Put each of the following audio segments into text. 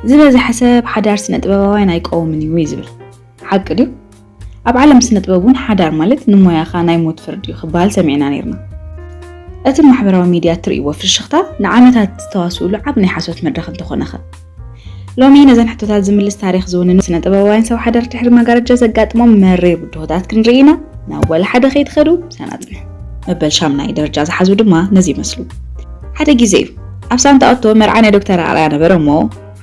ዝበዝሐ ሰብ ሓዳር ስነጥበባውያን ኣይቀውምን እዩ ዝብል ሓቂ ድዩ? ኣብ ዓለም ስነጥበብ እውን ሓዳር ማለት ንሞያኻ ናይ ሞት ፍርዲ እዩ ክበሃል ሰሚዕና ነይርና። እቲ ማሕበራዊ ሚድያ እትርእይዎ ፍሽኽታ ንዓመታት ዝተዋስኡሉ ዓቢ ናይ ሓሶት መድረኽ እንተኾነኸ? ሎሚ ነዘን ሕቶታት ዝምልስ ታሪኽ ዝውንኑ ስነጥበባውያን ሰብ ሓዳር ድሕሪ መጋረጃ ዘጋጥሞም መሪር ብድሆታት ክንርኢ ኢና። ናብ ወላ ሓደ ከይትኸዱ ምሳና ጽንሑ። መበል ሻምናይ ደረጃ ዝሓዙ ድማ ነዚ ይመስሉ። ሓደ ግዜ እዩ። ኣብ ሳንታኦቶ መርዓ ናይ ዶክተር ኣርኣያ ነበረ እሞ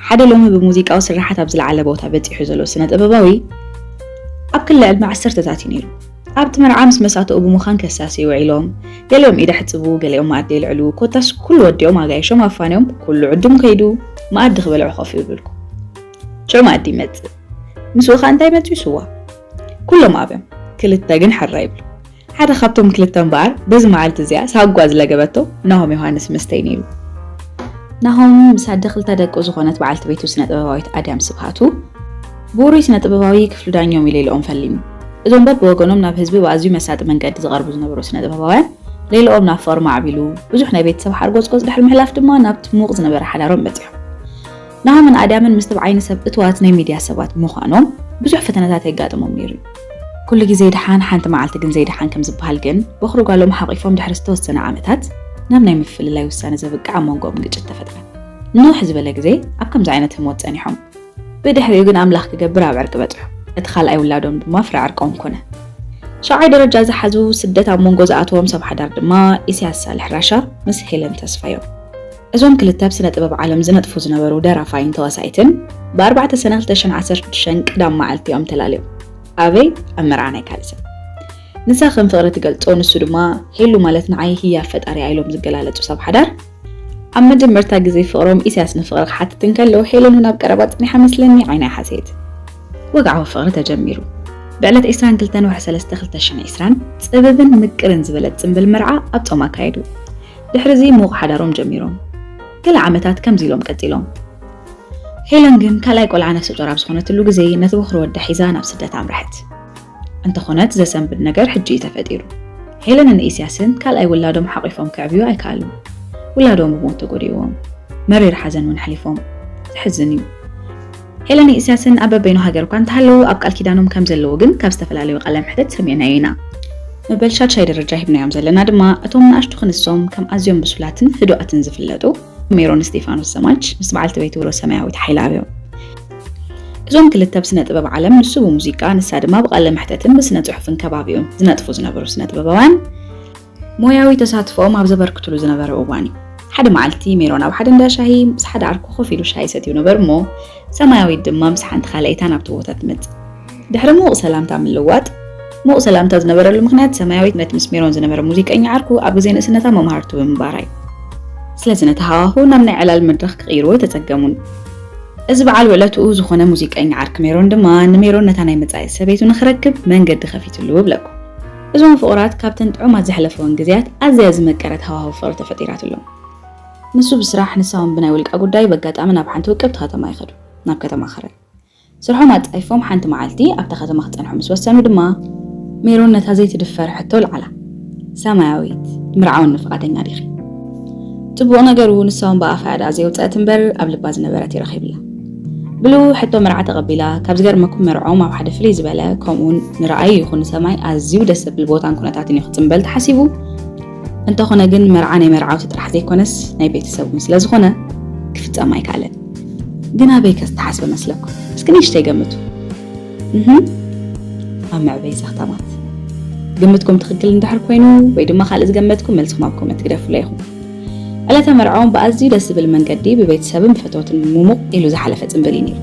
ሓደ ሎሚ ብሙዚቃዊ ስርሓት ኣብ ዝለዓለ ቦታ በጺሑ ዘሎ ስነ ጥበባዊ ኣብ ክሊ ዕድመ ዓሰርተታት እዩ ነይሩ። ኣብቲ መርዓ ምስ መሳተኡ ብምዃን ከሳስዩ ውዒሎም፣ ገሊኦም ኢድ ኣሕጽቡ፣ ገሊኦም መኣዲ የልዕሉ፣ ኮታስ ኩሉ ወዲኦም ኣጋይሾም ኣፋንዮም ኩሉ ዕዱም ከይዱ መኣዲ ክበልዑ ኮፍ ይብልኩ። ሽዑ መኣዲ ይመጽእ። ምስኡ ከ እንታይ መጽዩ ስዋ። ኩሎም ኣብዮም፣ ክልተ ግን ሕራይ ይብሉ። ሓደ ካብቶም ክልተ እምበኣር በዚ መዓልቲ እዚኣ ሳጓ ዝለገበቶ ናሆም ዮሃንስ መስተይ ነይሩ። ናሆም ምስ ኣደ ክልተ ደቁ ዝኾነት በዓልቲ ቤቱ ስነ-ጥበባዊት ኣድያም ስብሃቱ ብውሩይ ስነ-ጥበባዊ ክፍሉ ዳኞም ኢሌልኦም ፈሊሙ። እዞም በብወገኖም ናብ ህዝቢ ብኣዝዩ መሳጢ መንገዲ ዝቐርቡ ዝነበሩ ስነ-ጥበባውያን ሌልኦም ናብ ፍቕሪ ማዕቢሉ፣ ብዙሕ ናይ ቤተሰብ ሓርጎጽጎጽ ድሕሪ ምሕላፍ ድማ ናብቲ ምዉቕ ዝነበረ ሓዳሮም በጺሖም። ንሃምን ኣዳምን ምስ ተብዓይኒ ሰብ እትዋት ናይ ሚድያ ሰባት ምዃኖም ብዙሕ ፈተነታት የጋጥሞም ነይሩ እዩ። ኩሉ ግዜ ድሓን ሓንቲ መዓልቲ ግን ዘይድሓን ከም ዝበሃል ግን ቦኽሪ ጓሎም ሓቚፎም ድሕሪ ዝተወሰነ ዓመታት ናብ ናይ ምፍልላይ ውሳነ ዘብቅዕ ኣብ መንጎኦም ግጭት ተፈጥረ። ንንውሕ ዝበለ ግዜ ኣብ ከምዚ ዓይነት ህሞት ጸኒሖም። ብድሕሪኡ ግን ኣምላኽ ክገብር ኣብ ዕርቂ በጽሑ። እቲ ካልኣይ ውላዶም ድማ ፍረ ዕርቆም ኮነ። ሻብዓይ ደረጃ ዝሓዙ ስደት ኣብ መንጎ ዝኣተዎም ሰብ ሓዳር ድማ ኢሰያስ ሳልሕ ራሻ ምስ ሄለን ተስፋዮም። እዞም ክልተ ኣብ ስነ ጥበብ ዓለም ዝነጥፉ ዝነበሩ ደራፋይን ተዋሳኢትን ብ ኣርባዕተ ሰነ ክልተ ሽሕን ዓሰርተ ሽዱሽተን ቀዳም መዓልቲ እዮም ተላልዮም። ኣበይ? ኣብ መርዓ ናይ ካልእ ሰብ። ንሳ ከም ፍቕሪ ትገልጾ ንሱ ድማ ሄሉ ማለት ንዓይ ህያብ ፈጣሪ'ያ ኢሎም ዝገላለጹ ሰብ ሓዳር። ኣብ መጀመርታ ግዜ ፍቕሮም ኢሳያስ ንፍቕሪ ክሓትት እንከሎ ሄለን ውን ኣብ ቀረባ ጸኒሓ መስለኒ ዓይና ሓሰየት። ወግዓዊ ፍቕሪ ተጀሚሩ። ብዕለት ዕስራን ክልተን ወርሒ ሰለስተ ክልተ ሽሕን ዕስራን ጽብብን ምቅርን ዝበለት ጽምብል መርዓ ኣብ ጾም ኣካየዱ። ድሕሪ'ዚ ምዉቕ ሓዳሮም ጀሚሮም ገለ ዓመታት ከምዚ ኢሎም ቀጺሎም። ሄለን ግን ካልኣይ ቆልዓ ነፍሰጾር ኣብ ዝኾነትሉ ግዜ ነቲ በዅሪ ወዳ ሒዛ ናብ ስደት ኣምረሐት። እንተኾነት ዘሰንብድ ነገር ሕጂ እዩ ተፈጢሩ። ሄለንን ኢስያስን ካልኣይ ውላዶም ሓቚፎም ከዕብዩ ኣይከኣሉን። ውላዶም ብሞት ተጎዲእዎም። መሪር ሓዘን እውን ኣሕሊፎም። ዘሕዝን እዩ። ሄለንን ኢሳያስን ኣብ በበይኑ ሃገር'ኳ እንተሃለዉ ኣብ ቃል ኪዳኖም ከም ዘለዉ ግን ካብ ዝተፈላለዩ ቃለ መሕትት ሰሚዕናዮ ኢና። መበል ሻድሻይ ደረጃ ሂብናዮም ዘለና ድማ እቶም ንኣሽቱ ክንሶም ከም ኣዝዮም ብሱላትን ህዱኣትን ዝፍለጡ ሜሮን እስጢፋኖስ ዘማች ምስ በዓልቲ ቤቱ ሮዝ ሰማያዊት ሓይለኣብ እዮም። እዞም ክልተ ብስነ ጥበብ ዓለም ንሱ ብሙዚቃ ንሳ ድማ ብቃለ መሕተትን ብስነ ጽሑፍን ከባቢኡን ዝነጥፉ ዝነበሩ ስነ ጥበባውያን ሞያዊ ተሳትፎኦም ኣብ ዘበርክቱሉ ዝነበረ እዋን እዩ። ሓደ መዓልቲ ሜሮን ኣብ ሓደ እንዳ ሻሂ ምስ ሓደ ዓርኩ ኮፍ ኢሉ ሻሂ ይሰትዩ ነበሩ እሞ ሰማያዊት ድማ ምስ ሓንቲ ካልኣይታ ናብቲ ቦታ ትመጽእ። ድሕሪ ምዉቕ ሰላምታ ምልዋጥ ምዉቕ ሰላምታ ዝነበረሉ ምኽንያት ሰማያዊት ነቲ ምስ ሜሮን ዝነበረ ሙዚቀኛ ዓርኩ ኣብ ግዜ ንእስነታ መምሃርቱ ብምንባራ እዩ። ስለዚ ነቲ ሃዋሁ ናብ ናይ ዕላል መድረኽ ክቕይርዎ ኣይተጸገሙን። እዚ በዓል ውዕለትኡ ዝኾነ ሙዚቀኛ ዓርኪ ሜሮን ድማ ንሜሮን ነታ ናይ መጻኢት ሰበይቱ ንኽረክብ መንገዲ ከፊትሉ እብለኩም። እዞም ፍቑራት ካብተን ጥዑማት ዘሕለፈወን ግዜያት ኣዝያ ዝመቀረት ሃዋህው ፍቕሪ ተፈጢራትሎም። ንሱ ብስራሕ ንሳ ውን ብናይ ውልቃ ጉዳይ በጋጣሚ ናብ ሓንቲ ውቅብቲ ከተማ ይኸዱ፣ ናብ ከተማ ከረን። ስርሖም ኣጻይፎም ሓንቲ መዓልቲ ኣብታ ከተማ ክጸንሑ ምስ ወሰኑ ድማ። ሜሮን ነታ ዘይትድፈር ሕቶ ኣልዓላ፣ ሰማያዊት ምርዓወኒ ፍቓደኛ ዲኺ? ጽቡቕ ነገሩ ንሳ ውን ብኣፋ እያ ደኣ ዘየውጸአት እምበር ኣብ ልባ ዝነበረት እዩ ረኺብላ። ብሉ ሕቶ መርዓ ተቐቢላ ካብ ዝገርመኩም መርዖም ኣብ ሓደ ፍልይ ዝበለ ከምኡውን ንረኣይ ይኹን ንሰማይ ኣዝዩ ደስ ዘብል ቦታን ኩነታትን እዩ ክፅምበል ተሓሲቡ እንተኾነ ግን መርዓ ናይ መርዓውቲ ጥራሕ ዘይኮነስ ናይ ቤተሰብ እውን ስለ ዝኾነ ክፍፀም ኣይከኣለን ግን ኣበይ ከዝተሓስበ መስለኩም እስኪ ንእሽተይ ገምቱ ኣብ መዕበይ ዛኽታማት ግምትኩም ትኽክል እንድሕር ኮይኑ ወይ ድማ ካልእ ዝገመትኩም መልስኹም ኣብ ኮመንት ግደፉለይ ኢኹም ዕለተ መርዕኦም ብኣዝዩ ደስ ዝብል መንገዲ ብቤተሰብን ፈተውትን ሙሙቕ ኢሉ ዝሓለፈ ጽምብል እዩ ነይሩ።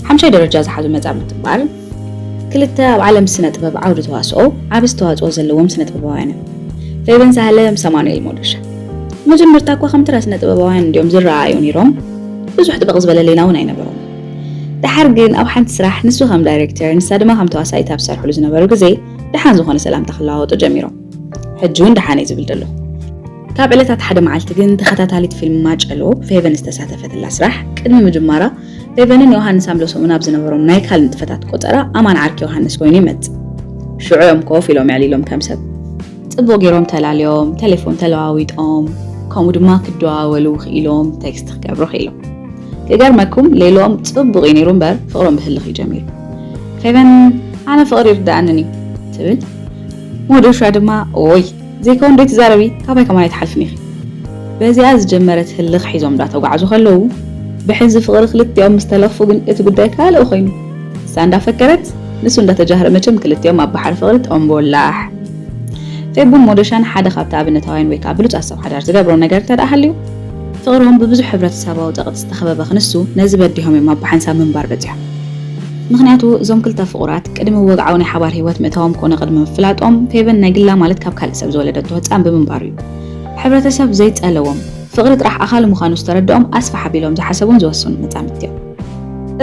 ሓምሻይ ደረጃ ዝሓዙ መጻምድቲ እምበኣር፣ ክልተ ኣብ ዓለም ስነ ጥበብ ዓውዲ ተዋስኦ ዓቢ ኣስተዋጽኦ ዘለዎም ስነ ጥበባውያን እዮም፣ ፌበን ሳህለ ምስ ኣማኑኤል ሞዶሻ። ብመጀመርታ እኳ ከም ተራ ስነ ጥበባውያን እንድዮም ዝረኣኣዩ ነይሮም፣ ብዙሕ ጥብቕ ዝበለ ሌላ እውን ኣይነበሮምን። ደሓር ግን ኣብ ሓንቲ ስራሕ ንሱ ከም ዳይሬክተር ንሳ ድማ ከም ተዋሳኢት ኣብ ዝሰርሕሉ ዝነበሩ ግዜ ደሓን ዝኾነ ሰላምታ ክለዋወጡ ጀሚሮም። ሕጂ እውን ደሓን እዩ ዝብል ዘሎ ካብ ዕለታት ሓደ መዓልቲ ግን ተኸታታሊት ፊልም ማጨሎ ፌቨን ዝተሳተፈትላ ስራሕ ቅድሚ ምጅማራ ፌቨንን ዮሃንስ ኣምለሶምን ኣብ ዝነበሮም ናይ ካል ንጥፈታት ቆፀራ ኣማን ዓርኪ ዮሃንስ ኮይኑ ይመፅእ ሽዑ እዮም ኮፍ ኢሎም የዕሊሎም ከም ሰብ ፅቡቅ ገይሮም ተላልዮም ቴሌፎን ተለዋዊጦም ከምኡ ድማ ክደዋወሉ ክኢሎም ቴክስት ክገብሩ ክኢሎም ክገርመኩም ሌሎም ፅቡቅ እዩ ነይሩ እምበር ፍቅሮም ብህልኽ እዩ ጀሚሩ ፌቨን ኣነ ፍቅሪ ይርዳእንን እዩ ትብል ሞዶሻ ድማ ኦይ ዘይከውን ዶ ትዛረቢ ካባይ ከማን ኣይትሓልፍን ኢኺ በዚኣ ዝጀመረት ህልኽ ሒዞም ዳተጓዕዙ ከለዉ ብሕንዚ ፍቕሪ ክልቲኦም ምስ ተለኽፉ ግን እቲ ጉዳይ ካልእ ኮይኑ እሳ እንዳፈከረት ንሱ እንዳተጃህረ መቸም ክልቲኦም ኣብ ባሕሪ ፍቕሪ ጦምቦላሕ ፌቡን ሞዶሻን ሓደ ካብቲ ኣብነታውያን ወይ ከኣ ብሉጻት ሰብ ሓዳር ዝገብሮ ነገር እንተደኣ ሃልዩ ፍቕሮም ብብዙሕ ሕብረተሰባዊ ጸቕጢ ዝተኸበበ ክንሱ ነዚ በዲሆም እዮም ኣብ ብሓንሳብ ምንባር በጺሖም። ምኽንያቱ እዞም ክልተ ፍቑራት ቅድሚ ወግዓዊ ናይ ሓባር ህይወት ምእታዎም ኮነ ቅድሚ ምፍላጦም ፌቨን ናይ ግላ ማለት ካብ ካልእ ሰብ ዝወለደቶ ህጻን ብምንባሩ እዩ ሕብረተሰብ ዘይጸለዎም ፍቕሪ ጥራሕ ኣኻሊ ምዃኑ ዝተረደኦም ኣስፍሕ ኣቢሎም ዝሓሰቡን ዝወሰኑን መጻምድቲ እዮም።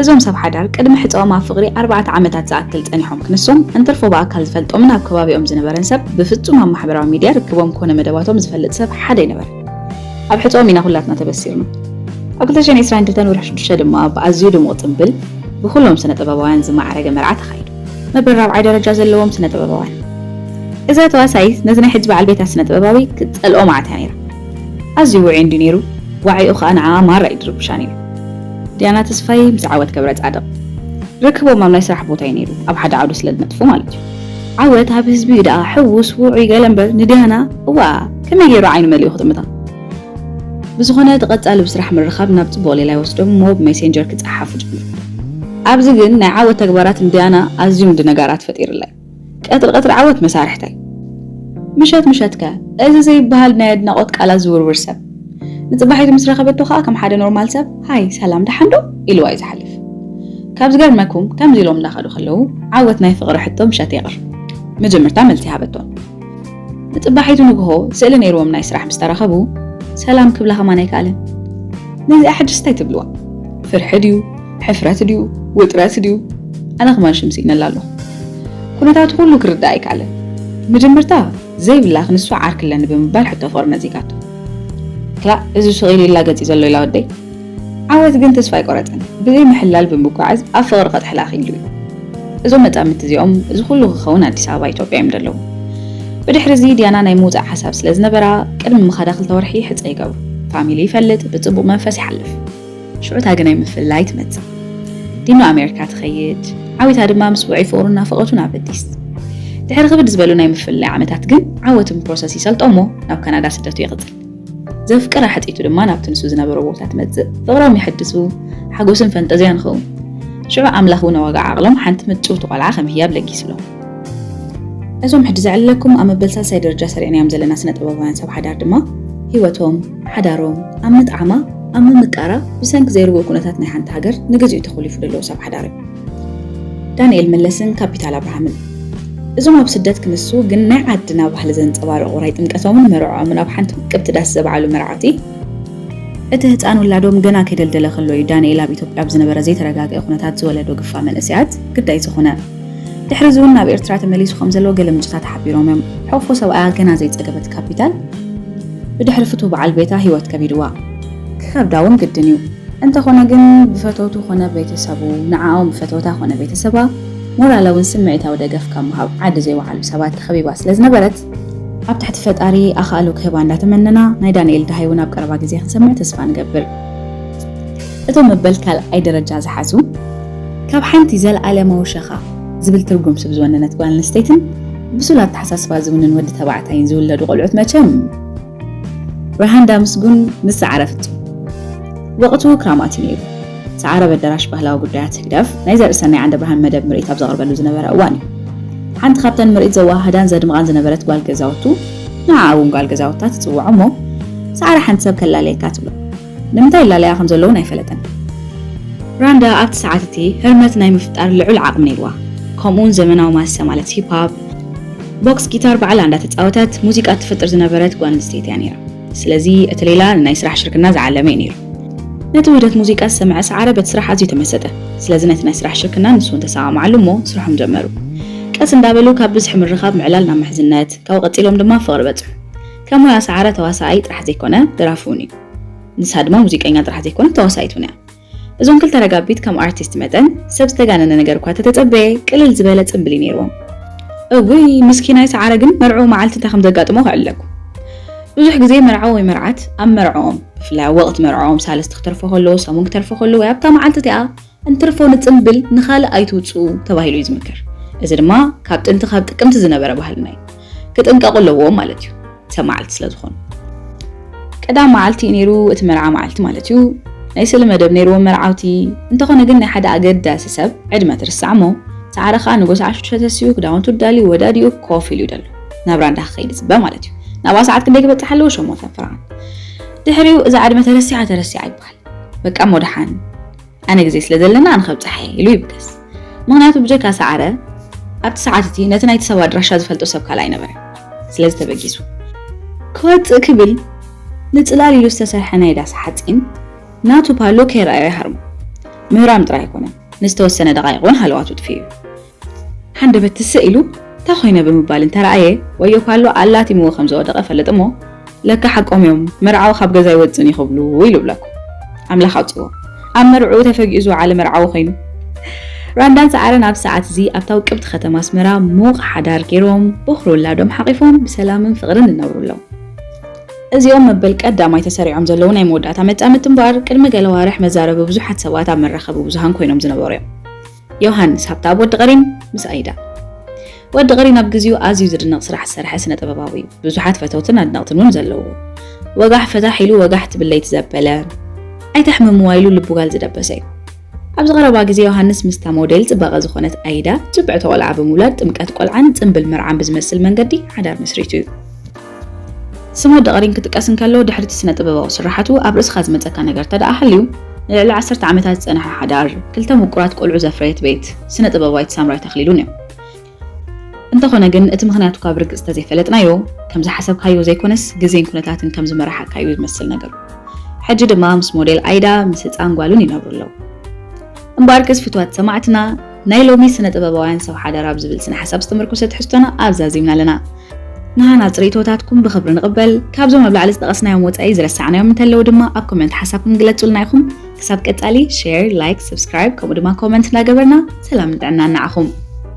እዞም ሰብ ሓዳር ቅድሚ ሕጸኦም ኣብ ፍቕሪ ኣርባዕተ ዓመታት ዝኣክል ጸኒሖም ክንሶም እንትርፎ ብኣካል ዝፈልጦምን ኣብ ከባቢኦም ዝነበረን ሰብ ብፍጹም ኣብ ማሕበራዊ ሚድያ ርክቦም ኮነ መደባቶም ዝፈልጥ ሰብ ሓደ ኣይነበረን። ኣብ ሕጸኦም ኢና ኩላትና ተበሲርና። ኣብ ክልተ ሽሕን ዕስራን ክልተን ወርሒ ሽዱሽተ ድማ ብኣዝዩ ድሙቕ ጽምብል ብኹሎም ስነ-ጥበባውያን ዝማዕረገ መርዓ ተኻይዱ። መበል ራብዓይ ደረጃ ዘለዎም ስነ-ጥበባውያን። እዛ ተዋሳኢት ነዚ ናይ ሕጂ በዓል ቤታ ስነ-ጥበባዊ ክትጸልኦ መዓት እያ ነይራ። ኣዝዩ ውዑይ እንድዩ ነይሩ፣ ዋዒኡ ከኣ ንዓኣ ማራ እዩ ድርብሻ ነይሩ። ዲያና ተስፋይ ምስ ዓወት ገብረጻድቕ። ርክቦም ኣብ ናይ ስራሕ ቦታ'ዩ ነይሩ፣ ኣብ ሓደ ዓውዲ ስለ ዝነጥፉ ማለት'ዩ። ዓወት ኣብ ህዝቢ'ዩ ደኣ ሕዉስ ዉዑይ ገለ እምበር ንድያና እዋእ ከመይ ጌሩ ዓይኑ መሊኡ ክጥምታ። ብዝኾነ እቲ ቀጻሊ ብስራሕ ምርኻብ ናብ ጽቡቕ ሌላ ይወስዶም እሞ ብሜሴንጀር ክጸሓሓፉ ጀምሩ። ኣብዚ ግን ናይ ዓወት ተግባራት ንድያና ኣዝዩም ድነጋራት ፈጢርለይ። ቀትሪ ቀትሪ ዓወት መሳርሕተይ። ምሸት ምሸትከ እዚ ዘይብሃል ናይ ኣድናቖት ቃላት ዝውርውር ሰብ። ንጽባሒቱ ምስ ረኸበቶ ከኣ ከም ሓደ ኖርማል ሰብ ሃይ ሰላም ደሓን ዶ? ኢልዋ እዩ ዝሓልፍ። ካብ ዝገርመኩም ከምዚ ኢሎም እንዳኸዱ ከለዉ ዓወት ናይ ፍቕሪ ሕቶ ምሸት የቕርብ። መጀመርታ መልሲ ሃበቶም። ንጽባሒቱ ንግሆ ስእሊ ነይርዎም ናይ ስራሕ ምስ ተራኸቡ ሰላም ክብላ ከማን ኣይከኣለን። ነዚኣ ሕጅስ እንታይ ትብልዋ? ፍርሒ ድዩ? ሕፍረት ድዩ? ውጥረት ድዩ? ኣነ ከማን ሽም ስኢነላ ኣለኹ። ኩነታቱ ኩሉ ክርዳእ ኣይከኣለን። መጀመርታ ዘይብላክ ንሱ ዓርኪ ኣለኒ ብምባል ሕቶ ፍቕሪ ነጺጋቶ። ክላእ እዚ ሽቕ ኢሉ ይላገጽ'ዩ ዘሎ ኢላ ወደይ። ዓወት ግን ተስፋ ኣይቆረጸን። ብዘይ ምሕላል ብምጓዓዝ ኣብ ፍቕሪ ከጥሕላ ክኢሉ'ዩ። እዞም መጻምድቲ እዚኦም እዚ ኩሉ ክኸውን ኣዲስ ኣበባ ኢትዮጵያ እዮም ዘለዉ። ብድሕሪ'ዚ ዲያና ናይ ምውጻእ ሓሳብ ስለ ዝነበራ ቅድሚ ምኻዳ ክልተ ወርሒ ሕጸ ይገብሩ። ፋሚሊ ይፈልጥ ብጽቡቕ መንፈስ ይሓልፍ። ሽዑ እታ ግናይ ምፍልላይ ትመጽእ። ዲኖ ኣሜሪካ ትኸይድ፣ ዓዊታ ድማ ምስ ውዑይ ፍቕሩን ናፍቖቱን ኣብ ኣዲስ። ድሕሪ ክብድ ዝበሉ ናይ ምፍልላይ ዓመታት ግን ዓወት ፕሮሰስ ይሰልጦ እሞ ናብ ካናዳ ስደቱ ይቕጽል። ዘፍቅራ ሕጢቱ ድማ ናብቲ ንሱ ዝነበሮ ቦታ ትመጽእ ፍቕሮም ይሕድሱ ሓጎስን ፈንጠዝያን ይኸውን ሽዑ ኣምላኽ እውን ኣዋጋ ዓቕሎም ሓንቲ ምጭውቲ ቆልዓ ከም ህያብ ለጊስሎም እዞም ሕጂ ዘዕልለኩም ኣብ መበል ሳልሳይ ደረጃ ሰሪዕናዮም ዘለና ስነ-ጥበባውያን ሰብ ሓዳር ድማ ህይወቶም፣ ሓዳሮም፣ ኣብ ምጥዓማ፣ ኣብ ምምቃራ ብሰንኪ ዘይርጉእ ኩነታት ናይ ሓንቲ ሃገር ንግዚኡ ተኾሊፉ ደለዉ ሰብ ሓዳር እዮም። ዳንኤል መለስን ካፒታል ኣብርሃምን። እዞም ኣብ ስደት ክንሱ ግን ናይ ዓድና ባህሊ ዘንጸባርቑ ራይ ጥምቀቶምን መርዕኦምን ኣብ ሓንቲ ውቅብቲ ዳስ ዘብዓሉ መርዓቲ፣ እቲ ህጻን ውላዶም ገና ከይደልደለ ከሎ እዩ ዳንኤል ኣብ ኢትዮጵያ ኣብ ዝነበረ ዘይተረጋግኤ ኩነታት ዝወለዶ ግፋ መንእሰያት ግዳይ ዝኾነ። ድሕሪ እዚ እውን ናብ ኤርትራ ተመሊሱ ከም ዘሎ ገለ ምንጭታት ሓቢሮም እዮም። ሕቕፎ ሰብኣያ ገና ዘይጸገበት ካፒታል ብድሕሪ ፍቱው በዓል ቤታ ህይወት ከቢድዋ። ክኸብዳ እውን ግድን እዩ። እንተኾነ ግን ብፈተውቱ ኮነ ቤተሰቡ፣ ንዓኦም ብፈተውታ ኮነ ቤተሰባ ሞራላዊን ስምዒታዊ ደገፍ ካብ ምሃብ ዓዲ ዘይወዓሉ ሰባት ተኸቢባ ስለ ዝነበረት፣ ኣብ ትሕቲ ፈጣሪ ኣኻእሎ ክህባ እንዳተመነና ናይ ዳንኤል ደሃይ እውን ኣብ ቀረባ ግዜ ክንሰምዕ ተስፋ ንገብር። እቶም መበል ካልኣይ ደረጃ ዝሓዙ ካብ ሓንቲ ዘልኣለማዊ ሸኻ ዝብል ትርጉም ስብ ዝወነነት ጓል ኣንስተይትን ብሱል ኣተሓሳስባ ዝውንን ወዲ ተባዕታይን ዝውለዱ ቆልዑት መቸም ራሃንዳ ምስጉን ምስ ሰዓረ ፍጹም ወቕቱ ክራማት እዩ ነይሩ። ሰዓረ በደራሽ ባህላዊ ጉዳያት ህግደፍ ናይ ዘርእሰናይ ዓንደብርሃን መደብ ምርኢት ኣብ ዘቕርበሉ ዝነበረ እዋን እዩ። ሓንቲ ካብተን ምርኢት ዘወሃህዳን ዘድምቓን ዝነበረት ጓል ገዛውቱ ንዓኣ እውን ጓል ገዛውታ ትጽውዖ እሞ ሰዓረ ሓንቲ ሰብ ከላለየካ ትብሎ። ንምንታይ ይላለያ ከም ዘለዉን ኣይፈለጠን። ራንዳ ኣብቲ ሰዓት እቲ ህርመት ናይ ምፍጣር ልዑል ዓቕሚ ነይርዋ፣ ከምኡውን ዘመናዊ ማሰ ማለት ሂፕ-ሆፕ፣ ቦክስ፣ ጊታር ባዕላ እንዳተጻወተት ሙዚቃ እትፈጥር ዝነበረት ጓል ኣንስተይቲ እያ ነይራ። ስለዚ እቲ ሌላ ንናይ ስራሕ ሽርክና ዝዓለመ እዩ ነይሩ። ነቲ ውህደት ሙዚቃ ዝሰምዐ ሰዓረ በቲ ስራሕ ኣዝዩ ተመሰጠ። ስለዚ ነቲ ናይ ስራሕ ሽርክና ንሱውን ተሰማምዓሉ እሞ ስርሖም ጀመሩ። ቀስ እንዳበሉ ካብ ብዝሒ ምርኻብ ምዕላል ናብ ምሕዝነት፣ ካብኡ ቀጺሎም ድማ ፍቕሪ በጽሑ። ከም ሞያ ሰዓረ ተዋሳኣይ ጥራሕ ዘይኮነ ደራፊ ውን እዩ። ንሳ ድማ ሙዚቀኛ ጥራሕ ዘይኮነት ተዋሳኢት ውን እያ። እዞም ክልተ ረጋቢት ከም ኣርቲስት መጠን ሰብ ዝተጋነነ ነገር እኳ ተተጸበየ ቅልል ዝበለ ጽምብል እዩ ኔርዎም። እውይ ምስኪናይ ሰዓረ ግን መርዕኡ መዓልቲ እንታይ ከም ዘጋጥሞ ክዕለልኩም። ብዙሕ ግዜ መርዓዊ ወይ መርዓት ኣብ መርዕኦም ብፍላይ ኣብ ወቕቲ መርዕኦም ሳልስቲ ክተርፎ ከሎ፣ ሰሙን ክተርፎ ከሎ ወይ ኣብታ መዓልቲ እቲኣ፣ እንትርፎ ንጽምብል ንኻልእ ኣይትውጽኡ ተባሂሉ እዩ ዝምከር። እዚ ድማ ካብ ጥንቲ ካብ ጥቅምቲ ዝነበረ ባህልና እዩ። ክጥንቀቁ ኣለዎም ማለት እዩ ሰብ መዓልቲ ስለ ዝኾኑ። ቀዳም መዓልቲ እዩ ነይሩ እቲ መርዓ መዓልቲ ማለት እዩ። ናይ ስእሊ መደብ ነይርዎም መርዓውቲ። እንተኾነ ግን ናይ ሓደ ኣገዳሲ ሰብ ዕድመ ትርስዕ እሞ ሰዓረ ከኣ ንጎስ ዓሹ ተሰሲኡ ክዳውንቱ ዳልዩ ወዳዲኡ ኮፍ ኢሉ ይደሉ። ናብራ እንዳ ክኸይድ ይጽበ ማለት እዩ። ናብኣ ሰዓት ክንደይ ክበጽሕ ኣለዎ ሸሞንተን ፍርቓን። ድሕሪኡ እዛ ዕድመ ተረሲዓ ተረሲዓ ይበሃል። በቃ እሞ ደሓን። ኣነ ግዜ ስለ ዘለና ኣነ ከብጽሓ እየ ኢሉ ይብገስ። ምኽንያቱ ብጀካ ሰዓረ ኣብቲ ሰዓት እቲ ነቲ ናይቲ ሰብ ኣድራሻ ዝፈልጦ ሰብ ካልእ ኣይነበረ። ስለዚ ተበጊሱ ክወጽእ ክብል ንጽላል ኢሉ ዝተሰርሐ ናይ ዳስ ሓጺን ናቱ ፓሎ ከይረኣዮ ይሃርሞ። ምህራም ጥራይ ኣይኮነን፣ ንዝተወሰነ ደቓይቕ እውን ሃለዋቱ ጥፊኡ እዩ። ሃንደበት ትስእ ኢሉ እታ ኮይነ ብምባል እንተረኣየ ወዮ ፓሎ ኣላቲምዎ ከም ዝወደቐ እፈልጥ እሞ ለካ ሓቆም እዮም መርዓዊ ካብ ገዛ ኣይወጽእን እዩ ክብሉ ኢሉ እብለኩም። ኣምላኽ ኣውጺእዎ ኣብ መርዕኡ ተፈጊኡ ዝወዓለ መርዓዊ ኮይኑ። ራንዳን ሰዓረን ኣብዚ ሰዓት እዚ ኣብታ ውቅብቲ ከተማ ኣስመራ ምዉቕ ሓዳር ገይሮም ቦኽሪ ውላዶም ሓቚፎም ብሰላምን ፍቕርን ይነብሩ ኣለዉ። እዚኦም መበል ቀዳማይ ተሰሪዖም ዘለዉ ናይ መወዳእታ መጻምድቲ እምበኣር ቅድሚ ገለ ኣዋርሕ መዛረቢ ብዙሓት ሰባት ኣብ መራኸቢ ብዙሃን ኮይኖም ዝነበሩ እዮም። ዮሃንስ ሃብተኣብ ወዲ ቀሪን ምስ ኣይዳ። ወዲ ቀሪን ኣብ ግዜኡ ኣዝዩ ዝድነቕ ስራሕ ዝሰርሐ ስነ ጥበባዊ እዩ። ብዙሓት ፈተውትን ኣድነቕትን እውን ዘለውዎ። ወጋሕ ፈታሕ ኢሉ ወጋሕ ትብል ለይቲ ዘበለ፣ ኣይተሕምምዋ ኢሉ ልቡ ጋል ዝደበሰ እዩ። ኣብዚ ቀረባ ግዜ ዮሃንስ ምስታ ሞዴል ጽባቐ ዝኾነት ኣይዳ፣ ጽብዕቲ ቆልዓ ብምውላድ ጥምቀት ቆልዓን ጽምብል መርዓን ብዝመስል መንገዲ ሓዳር መስሪቱ እዩ። ስም ወዲ ቀሪን ክጥቀስ እንከሎ ድሕሪ'ቲ ስነ-ጥበባዊ ስርሓቱ ኣብ ርእስኻ ዝመጸካ ነገር እንተደኣ ሃልዩ፣ ንልዕሊ ዓሰርተ ዓመታት ዝጸንሐ ሓዳር፣ ክልተ ምቁራት ቆልዑ ዘፍረየት ቤት፣ ስነ-ጥበባዊት ሳምራዊት ኣኽሊሉን እዩ። እንተኾነ ግን እቲ ምኽንያቱ እኳ ብርግጽ እንተዘይፈለጥናዮ፣ ከም ዝሓሰብካዮ ዘይኮነስ ግዜን ኩነታትን ከም ዝመርሓካ እዩ ዝመስል ነገሩ። ሕጂ ድማ ምስ ሞዴል ኣይዳ ምስ ህጻን ጓሉን ይነብሩ ኣለዉ። እምበኣርክስ ፍቱዋት ሰማዕትና፣ ናይ ሎሚ ስነ-ጥበባውያን ሰብ ሓዳር ኣብ ዝብል ስነ-ሓሳብ ዝተመርኮሰ ትሕዝቶና ኣብዚ ኣዚምና ኣለና። ንሃናጺ ርእይቶታትኩም ብኽብሪ ንቕበል። ካብዞም ኣብ ላዕሊ ዝጠቐስናዮም ወጻኢ ዝረሳዕናዮም እንተለዉ ድማ ኣብ ኮመንት ሓሳብኩም ግለጹልና ኢኹም። ክሳብ ቀጻሊ ሼር፣ ላይክ፣ ሰብስክራይብ ከምኡ ድማ ኮመንት እንዳገበርና ሰላምን ጥዕናን ንዓኹም!